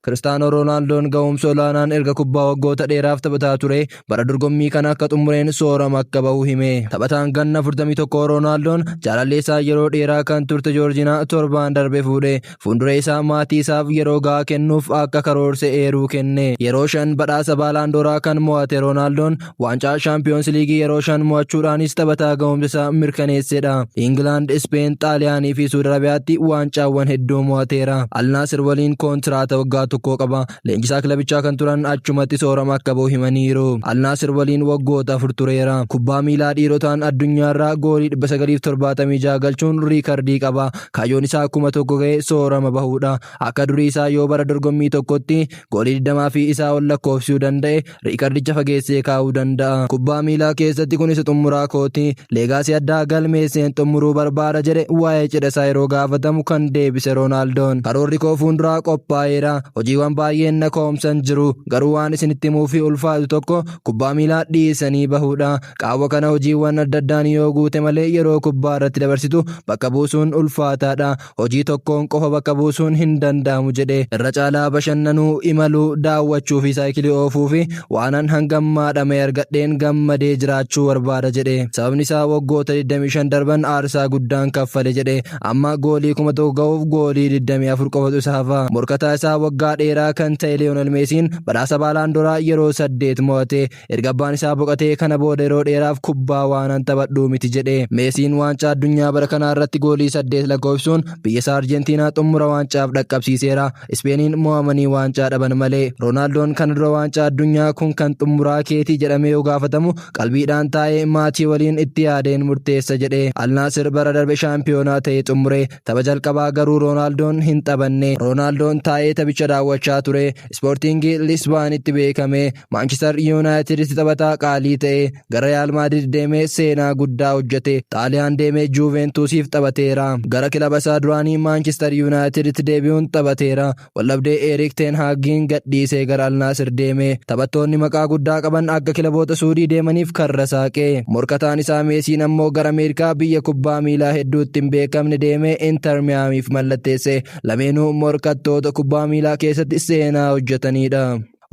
Kiristaanoo Roonaaldoon ga'umsa olaanaan erga kubbaa waggoota dheeraaf taphataa ture bara dorgommii kana akka xumureen soorama akka bahu hime. Taphataan ganna 41 Roonaaldoon jaalallee isaa yeroo dheeraa kan turte Joorjinaa torbaan darbe fuudhe. Fuuldura isaa maatii isaaf yeroo ga'aa kennuuf akka karoorse eeruu kenne. Yeroo shan badhaasa Baalaandooraa kan mo'ate Roonaaldoon Waancaa Shaampiyoons Liigii yeroo shan mo'achuudhaanis taphataa ga'umsa isaa mirkaneessedha. Ingilaand, Ispeen, Xaaliyaanii fi Suud Arabiyaatti waancaawwan hedduu mo'ateera. Alnaasir waliin kontiraata waggaa tokkoo qaba. Leenjisaa kilabichaa kan turan achumatti soorama akka ba'u himaniiru. Alnaasir waliin waggoota afur tureera. Kubbaa miilaa dhiirotaan addunyaarraa goolii 976 galchuun riikardii qaba. Kaayyoon isaa kuma tokko ga'ee soorama bahuudha. Akka durii isaa yoo bara dorgommii tokkotti goolii 20 fi isaa ol lakkoofsisuu danda'e riikardicha fageessee kaa'uu danda'a. Kubbaa miilaa keessatti kun isa xumuraa kooti. Leegaasii addaa galmeesseen xumuruu barbaada jedhe waa'ee cidha isaa yeroo gaafatamu kan deebise Roonaaldoon. Karoorri koo fuulduraa qophaa'eera. Hojiiwwan baay'een na koomsan jiru. Garuu waan isinitti himuuf ulfaatu tokko kubbaa miilaa dhiisanii bahuudha. Qaawwa kana hojiiwwan adda addaan yoo guute malee yeroo kubbaa irratti dabarsitu bakka buusuun ulfaataadha. Hojii tokkoon qofa bakka buusuun hin danda'amu jedhe. Irra caalaa bashannanuu, imaluu, daawwachuu fi saayikilii oofuu fi waanan hanga ammaa dhama'ee argadheen gammadee jiraachuu barbaada jedhe. Sababni isaa waggoota 25 darban aarsaa guddaan kaffale jedhe. Amma goolii 1000 gahuuf goolii 24 qofatu isa hafa. Morkataa isaa waggaa dheeraa kan ta'e Liyoonel Meesiin badhaasa Baalaandoraa yeroo saddeet mo'ate. Erga abbaan isaa boqatee kana booda yeroo dheeraaf kubbaa waanan taphadhuu miti jedhe. Meesiin waancaa addunyaa bara kanaa irratti goolii saddeet lakkoofsuun biyya isaa Arjentiinaa xummura waancaaf dhaqqabsiiseera. Ispeeniin mo'amanii waancaa dhaban malee. Roonaaldoon kana dura waancaa addunyaa kun kan xummuraa keetii jedhamee yoo gaafatamu qalbiidhaan taa'ee maatii waliin itti yaadeen murteessa jedhe. Al Naasir bara darbe shaampiyoonaa ta'ee xummure. Tapha jalqabaa garuu Roonaaldoon hin taphanne. Roonaaldoon taa'ee taphicha daawwachaa ture. Ispoortiingi Lisbaanitti beekame. Maanchister Yuunaayitiditti taphataa qaalii ta'e. Gara Riyaal Maadrid deemee seenaa guddaa hojjete. Xaaliyaan deemee Juuveentuusiif taphateera. Gara kilaba isaa duraanii Maanchister Yuunaayitiditti deebi'uun taphateera. Waldhabdee Eeriik Teen Haagiin gadhiisee gara Al Naasir deeme. Taphattoonni maqaa guddaa qaban akka kilaboota Suudii deemaniif karra saaqe. Morkataan isaa Meesiin ammoo gara Ameerikaa biyya kubbaa miilaa hedduutti hin beekamne deemee Inter Miyaamiif mallatteesse. Lameenuu morkattoota kubbaa miilaa keessatti seenaa hojjetaniidha.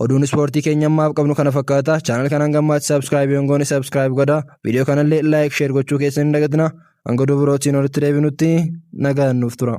Oduun ispoortii keenya ammaaf qabnu kana fakkaata. Chaanal kana hanga ammaatti saabskraayib hin goone saabskraayib godhaa. Viidiyoo kanallee laayik sheer gochuu keessan hin dagatinaa. Hanga oduu birootiin walitti deebinutti nagaan nuuf tura.